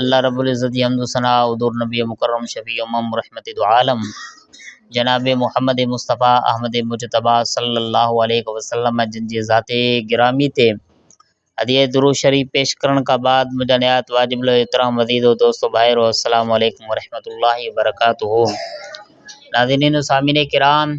الله رب العزت جي حمد و ثناء حضور نبي مڪرم شفيع امم رحمت دوعالم جناب محمد مصطفيٰ احمد مجتبيٰ صلّي الله عليه وسلّم جن جي ذات گرامي تي هديه درود شريف پيش ڪرڻ کان بعد منهنجا نهايت واجب الاحترام عزيز و دوست و ڀائرو السّلام عليڪم ورحمة الله وبرڪاته ناظرين و سامعين ڪرام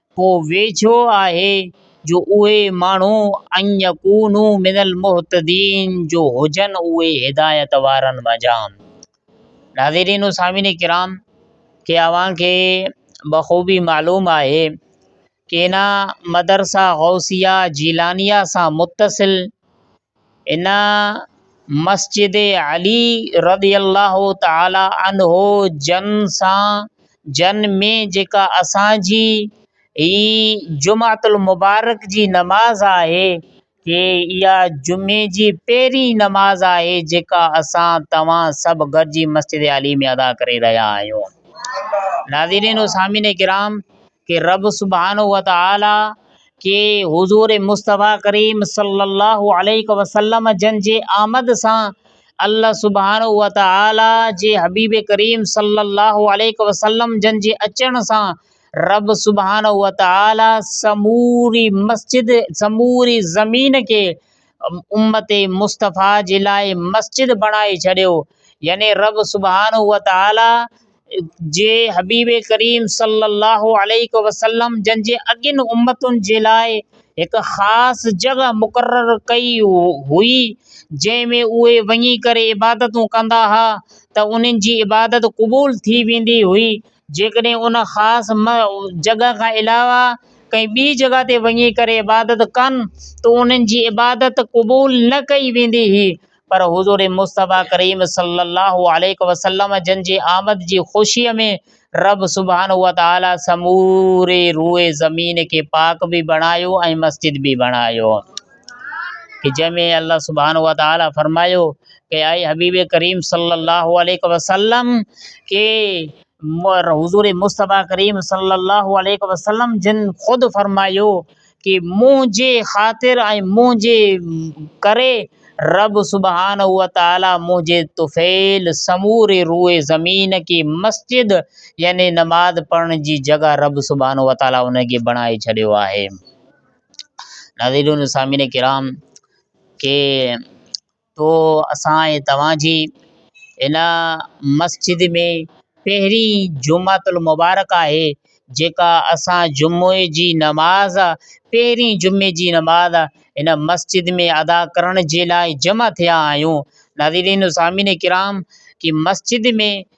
پوء ويجهو آهي جو اهي ماڻهو ان يڪونو من المهتدين جو هجن اهي هدايت وارن منجهان. ناظرين و سامعين ڪرام کي اوهان کي بخوبي معلوم آهي ڪينا مدرسه غوثيه جيلانيه سان متصل ان مسجد علي رضي الله تعالٰي عنه جن سان جن ۾ جيڪا اسان جي هي جمعت المبارڪ جي نماز آهي ڪي اها جمعي جي پهرين نماز آهي جيڪا اسان توهان سڀ گڏجي مسجد علي ۾ ادا ڪري رهيا آهيون ناظرين و سامعين ڪرام ڪي رب سبحانه وتعاليٰ ڪي حضور مصطفيٰ ڪريم صلّي الله عليه وسلّم جن جي آمد سان الله سبحانه وتعاليٰ جي حبيب ڪريم صلّي الله عليه وسلّم جن جي اچڻ سان رب سبحانه وتعاليٰ سموري مسجد سموري زمين کي امّت مصطفيٰ جي لاء مسجد بڻائي ڇڏيو يعني رب سبحانه وتعاليٰ جي حبيب ڪريم صلّي اللّٰه عليه وسلّم جن جي اڳين امّتن جي لاء هڪ خاص جڳهه مقرر ڪئي هئي جنهن ۾ اهي وڃي ڪري عبادتون ڪندا ها ته انهن جي عبادت قبول ٿي ويندي هئي جيڪڏهن ان خاص جڳهه کان علاوه ڪنهن ٻي جڳهه تي وڃي ڪري عبادت ڪن ته انهن جي عبادت قبول نه ڪئي ويندي هئي پر حضور مصطفيٰ ڪريم صلّي اللّٰه عليه وسلّم جن جي آمد جي خوشيء ۾ ربّ سبحانه وتعالٰي سموري روئي زمين کي پاڪ به بڻايو ۽ مسجد به بڻايو ته جنهن ۾ الله سبحانه وتعالٰي فرمايو ته اي حبيب ڪريم صلّي اللّٰه عليه وسلّم ڪي حضور مصطفيٰ ڪريم صلّي اللّٰه عليه وسلّم جن خود فرمايو ڪي منهنجي خاطر ۽ منهنجي ڪري رب سبحانه وتعالي منهنجي طفيل سموري روء زمين کي مسجد يعني نماز پڙهڻ جي جڳهه رب سبحانه وتعالي ان کي بڻائي ڇڏيو آهي ناظرين سامعين ڪرام ڪي تو اسان ۽ توهان جي هن مسجد ۾ پهرين جمعة المبارڪ آهي جيڪا اسان جمعي جي نماز پهرين جمعي جي نماز هن مسجد ۾ ادا ڪرڻ جي لاء جمع ٿيا آهيون ناظرين و سامعين ڪرام ڪي مسجد ۾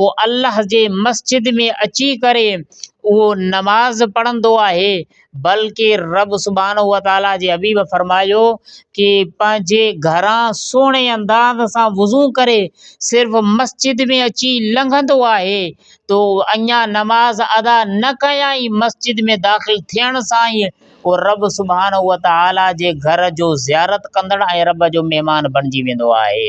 پوء الله جي مسجد ۾ اچي ڪري اهو نماز پڙهندو آهي بلڪه رب سبحانه وتعاليٰ جي حبيب فرمايو ڪي پنهنجي گهران سهڻي انداز سان وضو ڪري صرف مسجد ۾ اچي لنگهندو آهي تو اڃا نماز ادا نه ڪيائين مسجد ۾ داخل ٿيڻ سان ئي اهو رب سبحانه وتعاليٰ جي گهر جو زيارت ڪندڙ ۽ رب جو مهمان بڻجي ويندو آهي.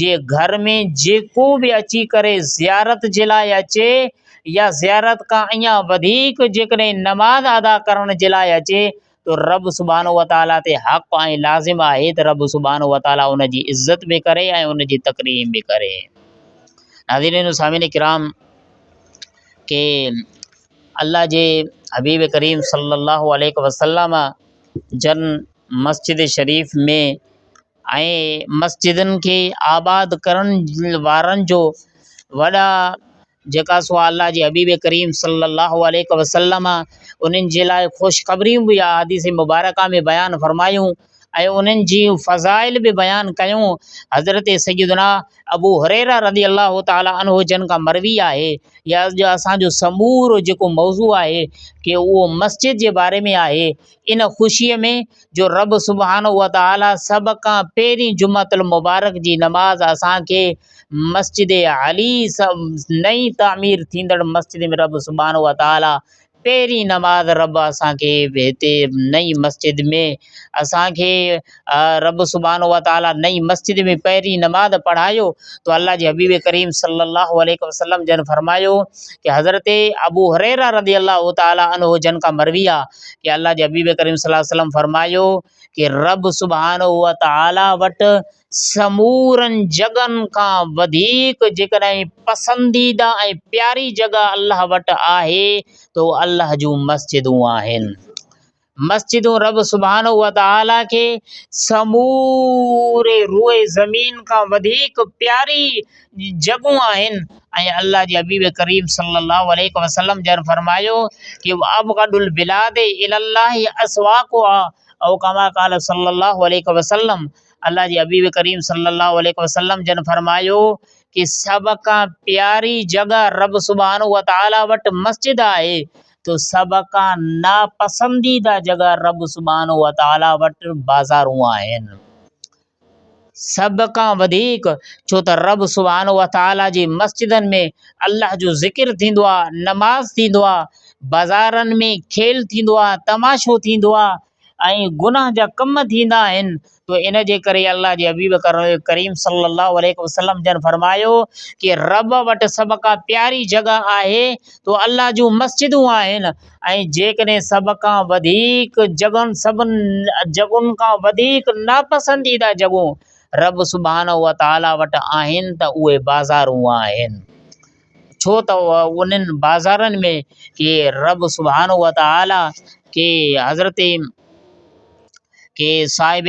جي گهر ۾ جيڪو به اچي ڪري زيارت جي لاء اچي يا زيارت کان اڃا وڌيڪ جيڪڏهن نماز ادا ڪرڻ جي لاء اچي ته رب سبحانه وتعاليٰ تي حق ۽ لازم آهي ته رب سبحانه وتعاليٰ ان جي عزت به ڪري ۽ ان جي تڪريم به ڪري. ناظرين سامعين ڪرام ڪي الله جي حبيب ڪريم صلي الله عليه وسلم جن مسجد شريف ۾ ۽ مسجدن کي آباد ڪرڻ وارن جو وڏا جيڪا سو الله جي حبيب ڪريم صلّي الله عليه وسلّم انهن جي لاء خوشخبريون بي احاديث مبارڪه ۾ بيان فرمايون ۽ انهن جي فضائل به بيان ڪيون حضرت سيدنا ابو هريره رضي الله تعالٰي عنه جن کان مروي آهي يا جو اسانجو سمورو جيڪو موضوع آهي ڪي اهو مسجد جي باري ۾ آهي ان خوشيء ۾ جو رب سبحانه وتعاليٰ سڀ کان پهرين جمعة المبارڪ جي نماز اسان کي مسجد علي نئين تعمير ٿيندڙ مسجد ۾ رب سبحانه وتعاليٰ پهرين نماز رب اسان کي هتي نئين مسجد ۾ اسان کي رب سبحانه وتعاليٰ نئين مسجد ۾ پهرين نماز پڙهايو تو الله جي حبيب ڪريم صلي الله عليه وسلم جن فرمايو ته حضرت ابو هريره رضي الله تعالٰي عنه جن کان مروي آهي ڪي الله جي حبيب ڪريم صلي الله عليه وسلم فرمايو ڪي رب سبحانه و تعالي وٽ سمورن جڳھن کان وڌيڪ جيڪڏھن پسنديده ۽ پياري جڳھه الله وٽ آھي ته اھو الله جون مسجدون آھن مسجدون رب سبحانه و تعالي کي سموري روئي زمين کان وڌيڪ پياري جڳهون آهن ۽ الله جي حبيب ڪريم صلي الله عليه وسلم جن فرمايو ته ابغض البلاد الي الله اسواقها او ڪما قال صلي الله عليه وسلم الله جي حبيب ڪريم صلي الله عليه وسلم جن فرمايو ته سڀ کان پياري جڳهه رب سبحانه وتعالي وٽ مسجد آهي ته سڀ کان ناپسنديده جڳهه رب سبحانه وتعالي وٽ بازارون آهن. سڀ کان وڌيڪ ڇو ته رب سبحانه وتعاليٰ جي مسجدن ۾ الله جو ذڪر ٿيندو آهي، نماز ٿيندو آهي، بازارن ۾ کيل ٿيندو آهي، تماشو ٿيندو آهي ۽ گناهه جا ڪم ٿيندا آهن ته ان جي ڪري الله جي حبيب ڪريم صلّي اللّٰه عليه وسلّم جن فرمايو ته رب وٽ سڀ کان پياري جڳهه آهي ته الله جون مسجدون آهن. ۽ جيڪڏهن سڀ کان وڌيڪ جڳهن، سڀن جڳهن کان وڌيڪ ناپسنديده جڳهون رب سبحانه وتعاليٰ وٽ آهن ته اهي بازارون آهن. ڇو ته انهن بازارن ۾ ڪي رب سبحانه وتعاليٰ ڪي حضرت ڪي صاحب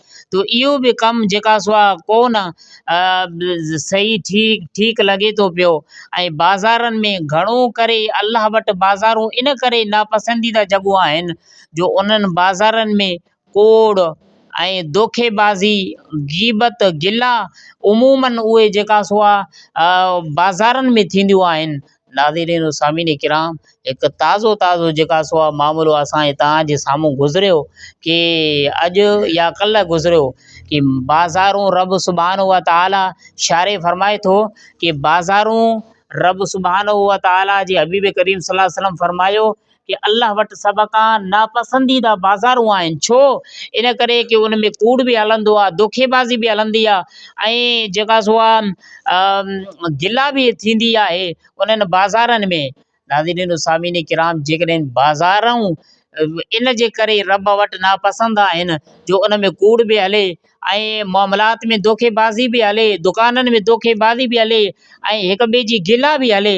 ته اهو به ڪم جيڪا سو آ ڪو نه صحيح ٺيڪ ٺيڪ لڳي ٿو پيو ۽ بازارن ۾ گهڻو ڪري الله وٽ بازارون ان ڪري ناپسنديده جڳهون آهن جو انهن بازارن ۾ ڪوڙ ۽ دوکي بازي غيبت گلا عموماً اهي جيڪا سو آ بازارن ۾ ٿينديون آهن ناظرين و سامعين ڪرام هڪ تازو تازو جيڪا سو آ معاملو اسان جي توهان جي سامهون گذريو ڪي اڄ يا ڪلهه گذريو ڪي بازارون رب سبحانه و تعالٰي شاري فرمائي ٿو ڪي بازارون رب سبحانه و تعالٰي جي حبيب ڪريم صلّي الله عليه وسلّم فرمايو ڪي الله وٽ سڀ کان ناپسنديده بازارون آهن، ڇو؟ ان ڪري ڪي ان ۾ ڪوڙ به هلندو آهي، دوکي بازي به هلندي آهي ۽ جيڪا سو آهي گلا به ٿيندي آهي انهن بازارن ۾. ناظرين و سامعين ڪرام جيڪڏهن بازارون ان جي ڪري رب وٽ ناپسند آهن جو ان ۾ ڪوڙ به هلي ۽ معاملات ۾ دوکي بازي به هلي، دڪانن ۾ دوکي بازي به هلي ۽ هڪ ٻئي جي گلا به هلي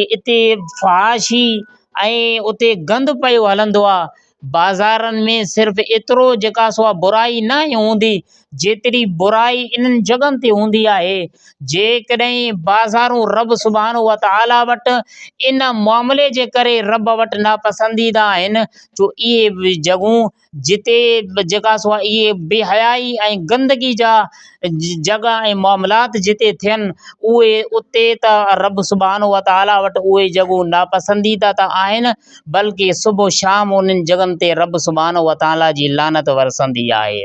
اتي فحاشي ۽ اتي گند پيو هلندو آهي بازارن ۾ صرف ايترو جيڪا سو آ برائي نه هوندي جيتري برائي انهن جڳهن تي هوندي آهي جي ڪڏهن بازارون رب سبحانه وتعالٰي وٽ ان معاملي جي ڪري رب وٽ ناپسنديده آهن جو اهي جڳهون جتي جيڪا سو اهي بي حيائي ۽ گندگي جا جڳ ۽ معاملات جتي ٿين اهي اتي ته رب سبحانه وتعالٰي وٽ اهي جڳهون ناپسنديده ته آهن بلڪه صبح و شام انهن جڳهن تي رب سبحانه وتعالٰي جي لعنت ورسندي آهي.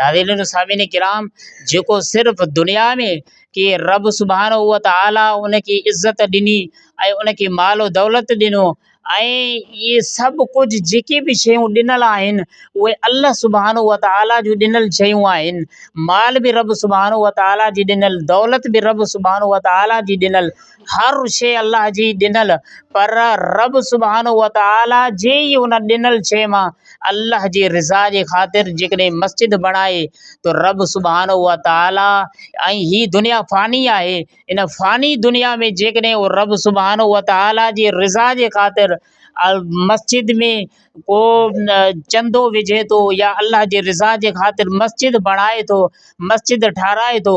ناظرين و سامعين ڪرام جيڪو صرف دنيا ۾ ڪي رب سبحانه و تعالٰي ان کي عزت ڏني ۽ ان کي مال و دولت ڏنو ۽ ائي سڀ ڪجھ جيڪي بھ شيون ڏنل آھن اھي الله سبحانه و تعالٰي جون ڏنل شيون آھن مال بھ رب سبحانه و تعالٰي جي ڏنل دولت بھ رب سبحانه و تعالٰي جي ڏنل هر شيء الله جي ڏنل پر رب سبحانه وتعاليٰ جي ئي ان ڏنل شيء مان الله جي رضا جي خاطر جيڪڏهن مسجد بڻائي ته رب سبحانه وتعاليٰ ۽ هي دنيا فاني آهي ان فاني دنيا ۾ جيڪڏهن هو رب سبحانه وتعاليٰ جي رضا جي خاطر مسجد ۾ ڪو چندو وجهي ٿو يا الله جي رضا جي خاطر مسجد بڻائي ٿو مسجد ٺهرائي ٿو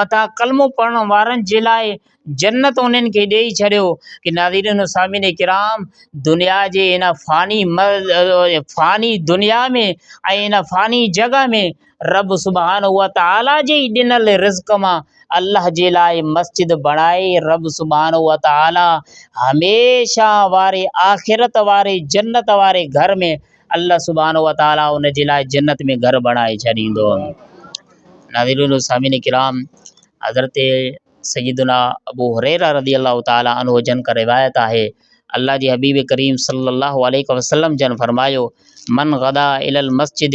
مٿان ڪلمو پڙهڻ وارن جي لاء جنت انهن کي ڏيئي ڇڏيو ڪي ناظرين و سامعين ڪرام دنيا جي هن فاني فاني دنيا ۾ ۽ هن فاني جڳ ۾ رب سبحان هو تعاليٰ جي ئي ڏنل رزق مان الله جي لاء مسجد بڻائي رب سبحان هو تعاليٰ هميشه واري آخرت واري جنت واري گهر ۾ الله سبحانه وتعالٰي ان جي لاء جنت ۾ گهر بڻائي ڇڏيندو. ناظرين و سامعين ڪرام! حضرت سيدنا ابو هريره رضي الله تعالٰي عنه جن کان روايت آهي، الله جي حبيب ڪريم صلّي الله عليه وسلّم جن فرمايو، من غدا الي المسجد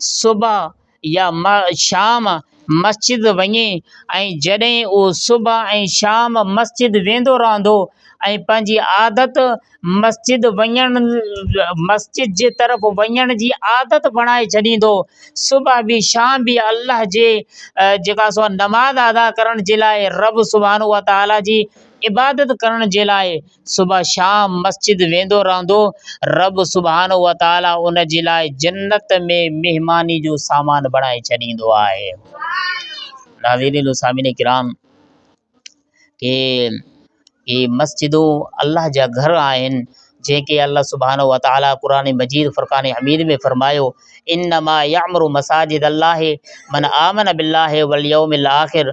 صبح يا شام مسجد وڃي ۽ جڏهن اهو صبح ۽ شام مسجد ويندو رهندو ۽ پنهنجي عادت مسجد وڃڻ مسجد جي طرف وڃڻ جي عادت بڻائي ڇڏيندو صبح بي شام بي الله جي جيڪا سو نماز ادا ڪرڻ جي لاء رب سبحانه وتعاليٰ جي عبادت ڪرڻ جي لاء صبح شام مسجد ويندو رهندو رب سبحانه وتعالي ان جي لاء جنت ۾ مهماني جو سامان بڻائي ڇڏيندو آهي ناظرين سامعين ڪرام ڪي ڪي مسجدون الله جا گھر آهن جيڪي الله سبحانه وتعالي قرآن مجيد فرقان حميد ۾ فرمايو انما يعمر مساجد الله من آمن بالله واليوم الاخر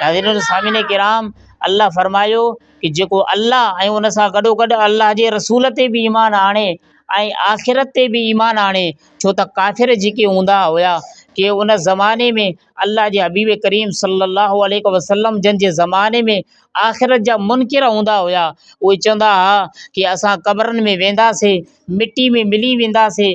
ناظرين و سامعين ڪرام الله فرمايو ڪي جيڪو الله ۽ ان سان گڏو گڏ الله جي رسول تي به ايمان آڻي ۽ آخرت تي به ايمان آڻي ڇو ته ڪافر جيڪي هوندا هيا ڪي ان زماني ۾ الله جي حبيب ڪريم صلي الله عليه وسلم جن جي زماني ۾ آخرت جا منڪر هوندا هيا اهي چوندا هيا ڪي اسان قبرن ۾ وينداسين مٽي ۾ ملي وينداسين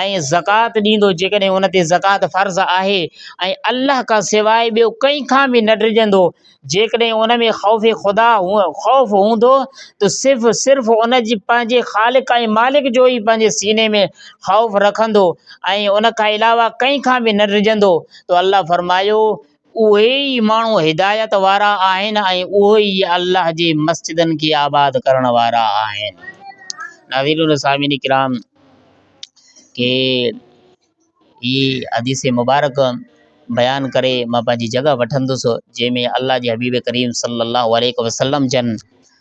۽ زڪوات ڏيندو جيڪڏهن ان تي زڪوات فرض آهي ۽ الله کان سواء ٻيو ڪنهن کان به نه ڊڄندو جيڪڏهن ان ۾ خوف خدا خوف هوندو ته صرف صرف ان جي پنهنجي خالق ۽ مالڪ جو ئي پنهنجي سيني ۾ خوف رکندو ۽ ان کان علاوه ڪنهن کان به نه ڊڄندو ته الله فرمايو اهي ئي ماڻهو هدايت وارا آهن ۽ اهي ئي الله جي مسجدن کي آباد ڪرڻ وارا آهن. ناظرين و سامعين ڪرام کي هي حديث مبارڪ بيان ڪري مان پنهنجي جڳهه وٺندس جنهن ۾ الله جي حبيب ڪريم صلّي اللّٰه عليه وسلّم جن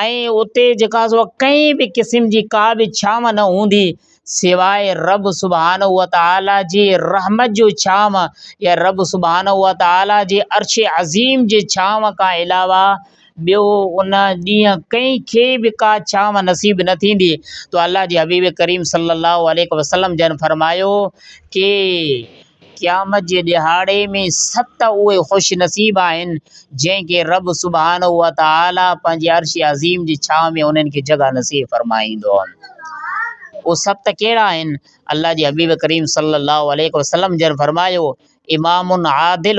۽ اتي جيڪا سو ڪنهن به قسم جي ڪا به ڇانو نه هوندي سواء رب سبحانه وتعاليٰ جي رحمت جو ڇانو يا رب سبحانه وتعاليٰ جي عرش عظيم جي ڇانو کان علاوه ٻيو ان ڏينهن ڪنهن کي به ڪا ڇانو نصيب نه ٿيندي تو الله جي حبيب ڪريم صلّي اللّٰه عليه وسلّم جن فرمايو ڪي قيامت جي ڏهاڙي ۾ ست اهي خوش نصيب آهن، جن کي رب سبحانه وتعاليٰ پنهنجي عرش عظيم جي ڇانو ۾ انهن کي جڳهه نصيب فرمائيندو. اهي ست ڪهڙا آهن؟ الله جي حبيب ڪريم صلّي اللّٰه عليه وسلّم جن فرمايو، امام عادل،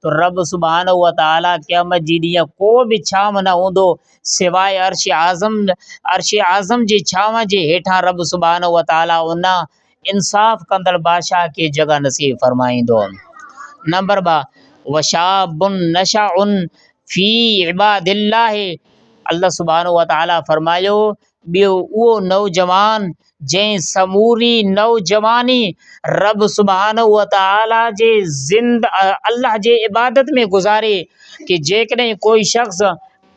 ته رب سبحانه وتعاليٰ قيامت جي ڏينهن ڪو به ڇانو نه هوندو سواء عرش اعظم عرش اعظم جي ڇانو جي هيٺان رب سبحانه وتعاليٰ ان انصاف ڪندڙ بادشاهه کي جڳهه نصيب فرمائيندو. نمبر ٻه وشاب نشأ في عباد الله الله سبحانه وتعاليٰ فرمايو ٻيو اهو نوجوان جنهن سموري نوجواني رب سبحانه وتعاليٰ جي زند الله جي عبادت ۾ گذاري ڪي جيڪڏهن ڪوئي شخص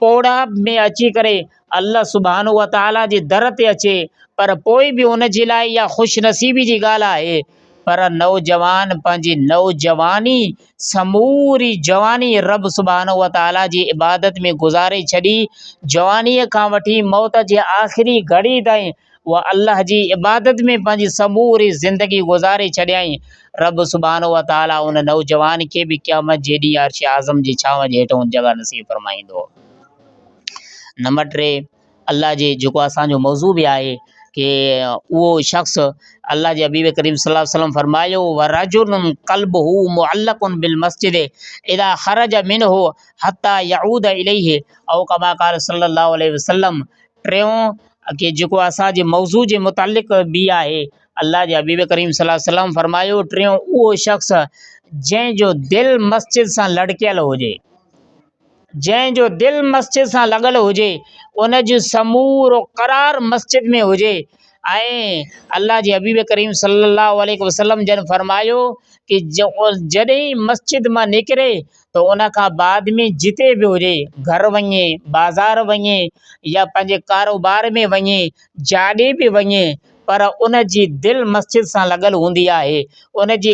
پوڙهه ۾ اچي ڪري الله سبحانه وتعاليٰ جي در تي اچي پر پوء به ان جي لاء اها خوش نصيبي جي ڳالهه آهي پر نوجوان پنهنجي نوجواني سموري جواني رب سبحانه وتعاليٰ جي عبادت ۾ گذاري ڇڏي، جوانيء کان وٺي موت جي آخري گهڙي تائين اها الله جي عبادت ۾ پنهنجي سموري زندگي گذاري ڇڏيائين، رب سبحانه وتعاليٰ ان نوجوان کي به قيامت جي ڏينهن عرش اعظم جي ڇانو جي هيٺ اونچ جڳهه نصيب فرمائيندو. نمبر ٽي، الله جي جيڪو اسان جو موضوع به آهي ڪي اهو شخص الله جي حبيب ڪريم صلي الله عليه وسلم فرمايو ورجل قلبه معلق بالمسجد اذا خرج منه حتي يعود اليه او ڪما قال صلي الله عليه وسلم ٽيون ڪي جيڪو اسان جي موضوع جي متعلق به آهي الله جي حبيب ڪريم صلي الله عليه وسلم فرمايو ٽيون اهو شخص جنهن جو دل مسجد سان لڙڪيل هجي جنهن جو دل مسجد سان لڳل هجي، ان جو سمورو قرار مسجد ۾ هجي ۽ الله جي حبيب ڪريم صلّي اللّٰه عليه وسلّم جن فرمايو ته جڏهن مسجد مان نڪري ته ان کان بعد ۾ جتي به هجي گهر وڃي بازار وڃي يا پنهنجي ڪاروبار ۾ وڃي جاڏي به وڃي پر ان جي دل مسجد سان لڳل هوندي آهي، ان جي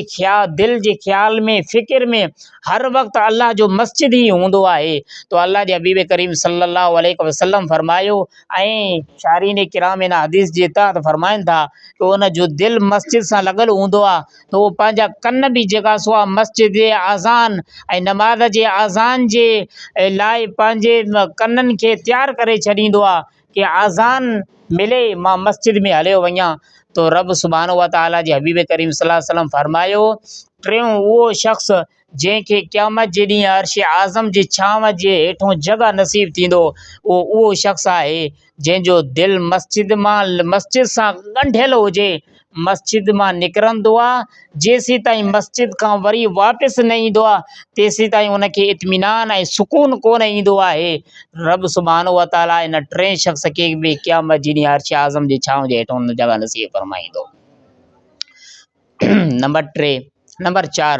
دل جي خيال ۾ فڪر ۾ هر وقت الله جو مسجد ئي هوندو آهي تو الله جي حبيب ڪريم صلّي الله عليه وسلّم فرمايو ۽ شارحين ڪرام ان حديث جي تحت فرمائن ٿا ته ان جو دل مسجد سان لڳل هوندو آهي ته اهو پنهنجا ڪن به جيڪا سو آهي مسجد جي آذان ۽ نماز جي آذان جي لاء پنهنجي ڪنن کي تيار ڪري ڇڏيندو آهي ڪي آذان ملي مان مسجد ۾ هليو وڃان ته رب سبحانه و تعالٰي جي حبيب ڪريم صلّي الله عليه وسلّم فرمايو ٽيون اهو شخص جنهن کي قيامت جي ڏينهن عرش اعظم جي ڇانو جي هيٺون جڳهه نصيب ٿيندو اهو اهو شخص آهي جنهن جو دل مسجد مان مسجد سان ڳنڍيل هجي مسجد مان نڪرندو آ جيسيتائين مسجد کان وري واپس نه ايندو آ تيسيتائين ان کي اطمينان ۽ سڪون ڪون ايندو آهي. رب سبحانه وتعاليٰ ان ٽئين شخص کي به قيامت جي ڏينهن عرش اعظم جي ڇانو جي هيٺ هوندڙ جڳهه نصيب فرمائيندو. نمبر ٽي، نمبر چار،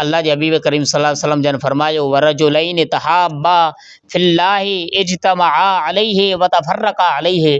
الله جي حبيب ڪريم صلي الله عليه وسلم جن فرمايو، ورجلين تحابا في الله اجتمعا عليه وتفرقا عليه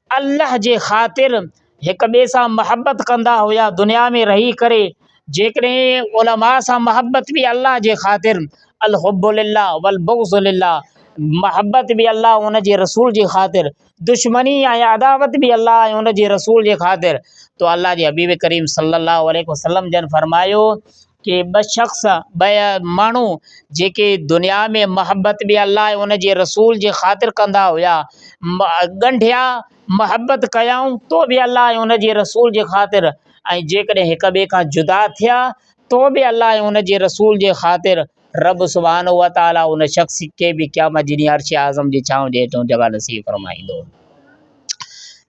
الله جي خاطر هڪ ٻئي سان محبت ڪندا هيا دنيا ۾ رهي ڪري جيڪڏهن علماء سان محبت به الله جي خاطر الحب لله والبغض لله محبت به الله ۽ ان جي رسول جي خاطر دشمني ۽ عداوت به الله ۽ ان جي رسول جي خاطر تو الله جي حبيب ڪريم صلّي الله عليه وسلّم جن فرمايو ڪي ٻه شخص ٻه ماڻهو جيڪي دنيا ۾ محبت به الله ۽ ان جي رسول جي خاطر ڪندا هيا ڳنڍيا محبت ڪيائون تو به الله ۽ ان جي رسول جي خاطر ۽ جيڪڏهن هڪ ٻئي کان جدا ٿيا تو به الله ۽ ان جي رسول جي خاطر رب سبحانه وتعالٰي ان شخص کي به قيامت جي ڏينهن عرش اعظم جي ڇانو جي هيٺ جڳهه نصيب فرمائيندو.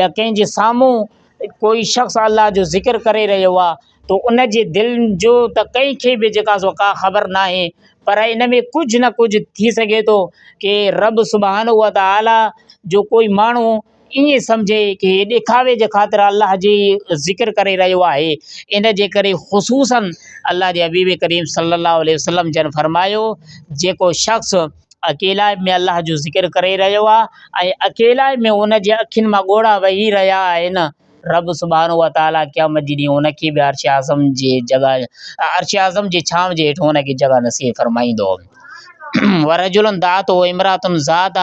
يا ڪنهن جي سامهون ڪوئي شخص الله جو ذڪر ڪري رهيو آ تو ان جي دل جو ته ڪنهن کي به جيڪا سو ڪا خبر نه آهي پر ان ۾ ڪجهه نه ڪجهه ٿي سگهي ٿو ڪي رب سبحان الله تعالٰي جو ڪوئي ماڻهو ائين سمجهي ڪي ڏکاوي جي خاطر الله جي ذڪر ڪري رهيو آهي ان جي ڪري خصوصن الله جي حبيب ڪريم صلي الله عليه وسلم جن فرمايو جيڪو شخص اڪيلائي ۾ الله جو ذڪر ڪري رهيو آهي ۽ اڪيلائي ۾ ان جي اکين مان ڳوڙها وهي رهيا آهن رب سبحانه وتعالٰي قيامت جي ڏينهن ان کي به عرش اعظم جي جڳهه عرش اعظم جي ڇانو جي هيٺ ان کي جڳهه نصيب فرمائيندو ورجل دعته امرات ذات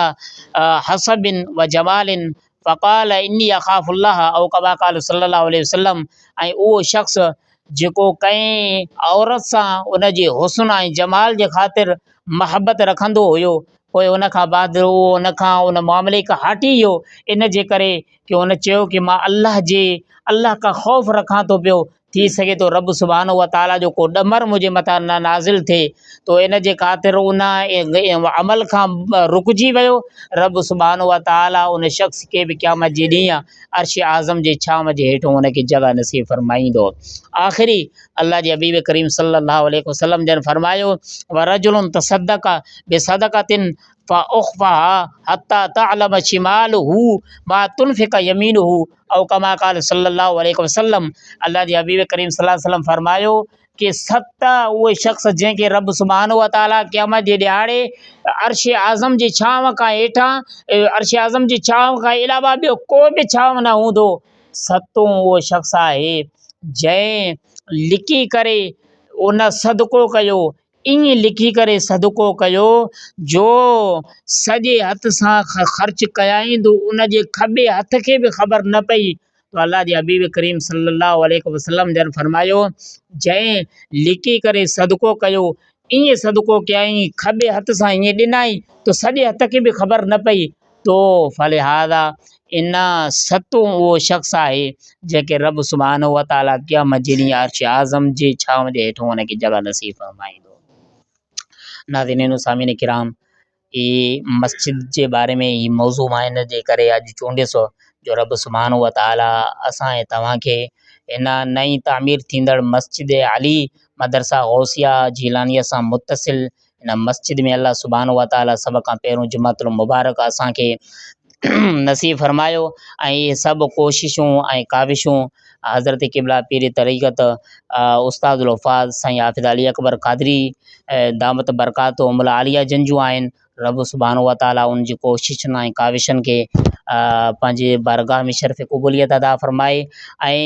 حسب و جمال فقال اني اخاف الله او ڪما قال صلي الله عليه وسلم ۽ اهو شخص جيڪو ڪنهن عورت سان ان جي حسن ۽ جمال جي خاطر محبت رکندو هيو پوء ان کان بعد اهو ان کان ان معاملي کان هٽي ويو ان جي ڪري ڪي هن چيو ڪي مان الله جي الله کان خوف رکان ٿو پيو ٿي سگهي ٿو رب سبحانه وتعاليٰ جو ڪو ڏمر منهنجي مٿان نه نازل ٿئي تو ان جي خاطر ان عمل کان رڪجي ويو رب سبحانه وتعاليٰ ان شخص کي به قيامت جي ڏينهن عرش اعظم جي ڇانو جي هيٺ ان کي جڳهه نصيب فرمائيندو آخري الله جي حبيب ڪريم صلي الله عليه وسلم جن فرمايو ورجل تصدق بصدقتن فاخفها حتى تعلم شماله ما تنفق يمينه او ڪما قال صلّي اللّٰه عليه وسلّم الله جي حبيب ڪريم صلّي اللّٰه عليه وسلّم فرمايو ڪي ست اهي شخص جنهن کي ربّ سبحانه و تعالٰي قيامت جي ڏهاڙي عرش اعظم جي ڇانو کان هيٺان عرش اعظم جي ڇانو کان علاوه ٻيو ڪو به ڇانو نه هوندو ستون اهو شخص آهي جنهن لڪي ڪري ان صدقو ڪيو ائين لکي ڪري صدقو ڪيو جو سڄي هٿ سان خرچ ڪيائين جو ان جي کٻي هٿ کي به خبر نه پئي ته الله جي حبيب ڪريم صلّي اللّٰه عليه وسلّم جن فرمايو جنهن لڪي ڪري صدقو ڪيو ائين صدقو ڪيائين کٻي هٿ سان ائين ڏنائين جو سڄي هٿ کي به خبر نه پئي تو فلهذا ان ستون اهو شخص آهي جنهن کي رب سبحانه وتعالي قيامت جي ڏينهن عرش اعظم جي ڇانو جي هيٺون ان کي جڳهه نصيب فرمائيندو. ناظرين و سامعين ڪرام هي مسجد جي باري ۾ هي موضوع مان ان جي ڪري اڄ چونڊيس هو جو رب سبحانه وتعالي اسان ۽ توهان کي ان نئين تعمير ٿيندڙ مسجد علي مدرسه غوثيه جيلانيه سان متصل ان مسجد ۾ الله سبحانه وتعاليٰ سڀ کان پهريون جمعة المبارڪ اسان کي نصيب فرمايو ۽ اهي سڀ ڪوششون ۽ ڪاوشون حضرت قبله پير طريقت استاد الحفاظ سائين حافظ علي اڪبر قادري دامت برڪاتهم العاليه جن جون آهن رب سبحانه وتعاليٰ ان جي ڪوششن ۽ ڪاوشن کي پنهنجي بارگاهه ۾ شرف قبوليت ادا فرمائي ۽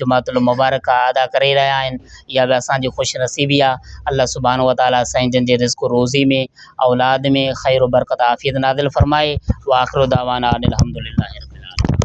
جمعت المبارڪ ادا ڪري رهيا آهن اها به اسان جي خوش نصيبي آ الله سبحانه وتعالي سائين جن جي رزق و روزي ۾ اولاد ۾ خير و برڪت عافيت نازل فرمائي واخر دعوانا ان الحمدلله رب العالمين.